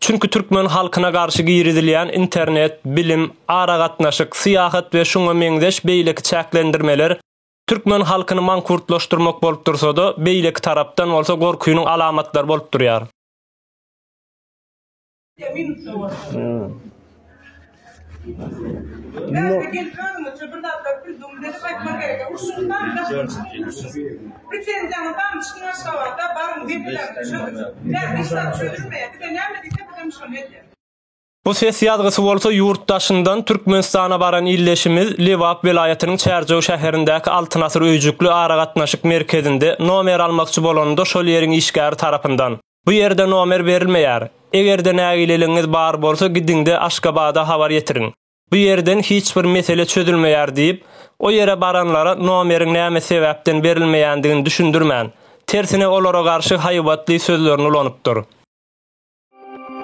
Çünki türkmen halkyna garşy girizilýän internet, bilim, aragatnaşyk, syýahat we şuňa meňzeş beýleki çäklendirmeler türkmen halkyny mankurtlaşdyrmak bolup dursa-da, beýleki tarapdan bolsa gorkynyň alamatlary bolup durýar. Bu ses ýazgysy bolsa ýurt daşyndan Türkmenistana baran ildeşimiz Lebap welaýatynyň Çärjew şäherindäki Altyn asyr öýjükli aragatnaşyk merkezinde nomer almakçy bolanda şol ýeriň işgäri tarapyndan Bu ýerde nomer berilmeýär. Eger-de nägileligiňiz bar bolsa gidiňde Aşgabada habar ýetiriň. Bu ýerden hiç bir mesele çözülmeýär diýip, o ýere baranlara nomeriň näme sebäpden berilmeýändigini düşündirmän, tersine olara garşy haýbatly sözlerini ulanypdyr.